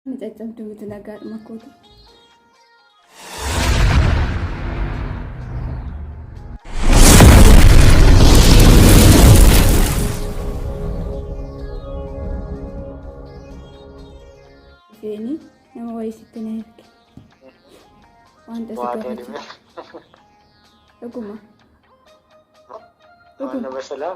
Ani caccabdu miti nagaadhuma kootu. Feeni nama wayii sitti na erge. Wanta si Waa ta'e gaafatu. dhibee. Dhuguma. Waan nama salaa.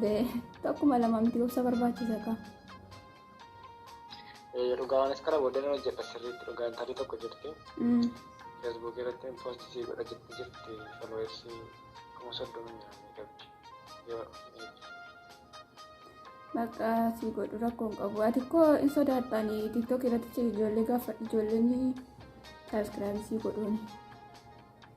Bee, Takkuma lama miti obsa barbaachisa kaa. Eh, Dhugaa anis kana booddee nan hojjedha sirriitti dhugaa intalli tokko jirti. Mm. Facebook irratti post sii godha jetti jirti followers kuma soddoma nyaanni qabdi. Yoo Bakka si godhu rakkoon qabu. Ati koo hin sodaatani TikTok irratti ijoollee gaafadhu ijoolleen saabskiraayib si godhuun.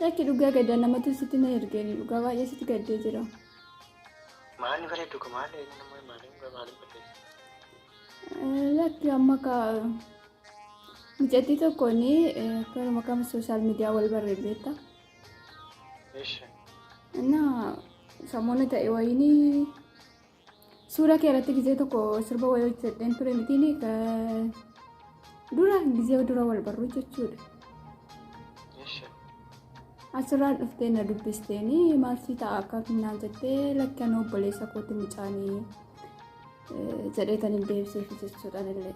Lakki dhugaa gadda namatu sitti na ergeeni dhugaa baay'ee sitti gaddee jira. Maanni bareedu kun maal eenyu nama maaliin gara maaliin balleessa? Lakki amma ka mucattii tokkoon karuma kam sooshaal miidiyaa wal barree beekta. Eesha. Innaa samoona ta'e wayiinii Suuraa kee irratti gizee tokko sirba wayii hojjedheen ture mitiin dura gizee dura wal barru jechuudha. Asirraa dhuftee na dubbisteen maal si ta'a akka finnaa jettee lakkan obboleessa kooti mucaanii jedheetan hin deebiseef jechuudhaan illee.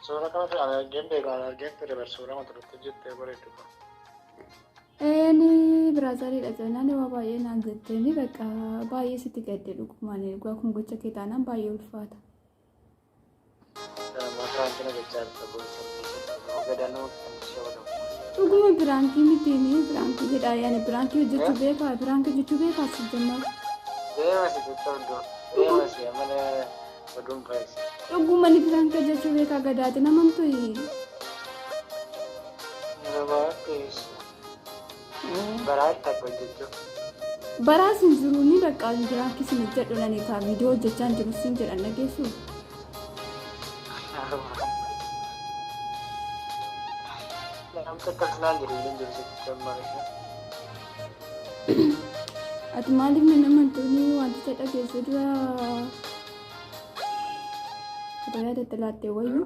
Suuraa kanatti argeen beeku argeen ture bar suuraa mata duree jettee bareedu. Eeni biraazariidha jennaan waa baay'ee naan jetteeni bakka baay'ee sitti gadde dhugumaan egaa kun gocha kee taanaan baay'ee ulfaata. Dhuguma biraankii miti ni biraankii jedhaa yaani biraankii hojjechuu beekaa biraankii hojjechuu beekaa si jennaan. Deemasi jechuun deemasi amala. Oduun faayisa. Dhuguma ni piraanka jechuu beekaa gadaati namamtu hii. Baraa sin jiruu ni baqqaa piraanki sin hojjedhu nani kaa viidiyoo hojjechaan jiru sin jedhan dhageessu. Namni tokko naan jedhu illee hin jiru jechuudha. Ati maaliif nan amantuuni wanticha dhageessuu dura otoo yaadatti laattee wayyu.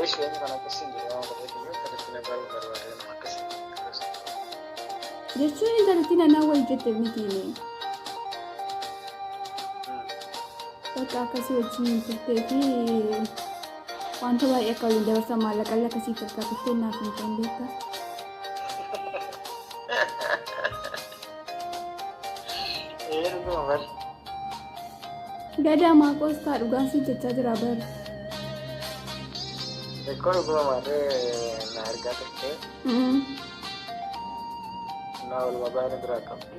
Eesh yoonni kan akkasiin jedhe waan godheef iyyuu akkasitti na garuu barbaade nama akkasiin Jechuun intalatti nanaa wayyu jette mitiini. Bakka akkasii wajjin hin turtee fi Wanta baay'ee akka waliin dabarsan maallaqallee akka siif harkaa turtee naaf hin ta'in beektaa? Eeruma bari. Gadaa maaqoos taa dhugaan siif jechaa jira bara. Beekoo dhuguma maatee na argaa turtee na olma baay'ina biraa qabdi.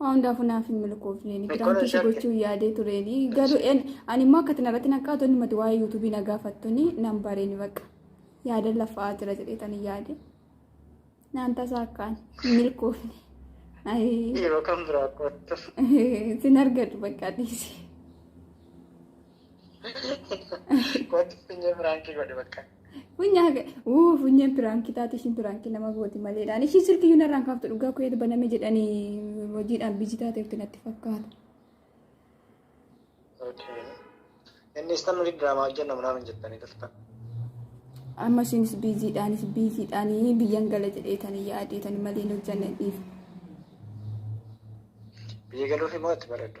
Waan hundaafuu naaf hin milkoofne. Ni Mikkoo kiraantii si shakka. gochuu yaadee tureeni. Garuu en ani immoo akka tinarratti naqaatu inni mati waa'ee yuutuubii na gaafattuni nan bareeni bakka. Yaadan lafa'aa jira jedheetan hin yaade. Naan tasaa akkaan hin milkoofne. Ayii. Yeroo kan biraa qorattu. Sin argadhu bakka dhiisi. Qorattu finyee biraankii godhe bakka. Funyaa uu funyaan piraankii taate ishiin piraankii nama gooti maleedhaan ishii silkii yuun irraan kaaftu dhugaa koo eeda baname jedhanii hojiidhaan biji taateefti natti fakkaata. Inni isaan nuti diraamaa hojjennu naannoo jettanii turtan. Amma ishiinis biiziidhaanis biiziidhaanii biyyan gala jedheetanii yaadeetanii malee hin hojjenne dhiif. Biyya galuufi moo itti bareeddu?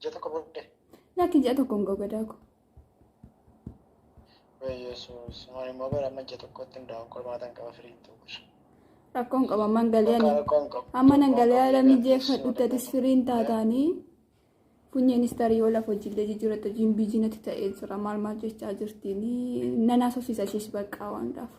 Ji'a tokko booddee. Lakki ji'a tokko hin ga'u gadaa koo. Yesuus maal immoo bara amma ji'a tokkotti hundaa'uun qormaata hin qaba firii hin ta'u. Rakkoon qaba amman galee ani. Rakkoon qabu. Amma nan galee haala mijeeffadhutti atis firii hin taataanii. Funyeenis tarii yoo lafa hojiillee jijjiirratti hojiin biijii natti ta'ee jira maal maal jechaa jirtiin nan haasofsiisa ishees baqqaa waan gaafa.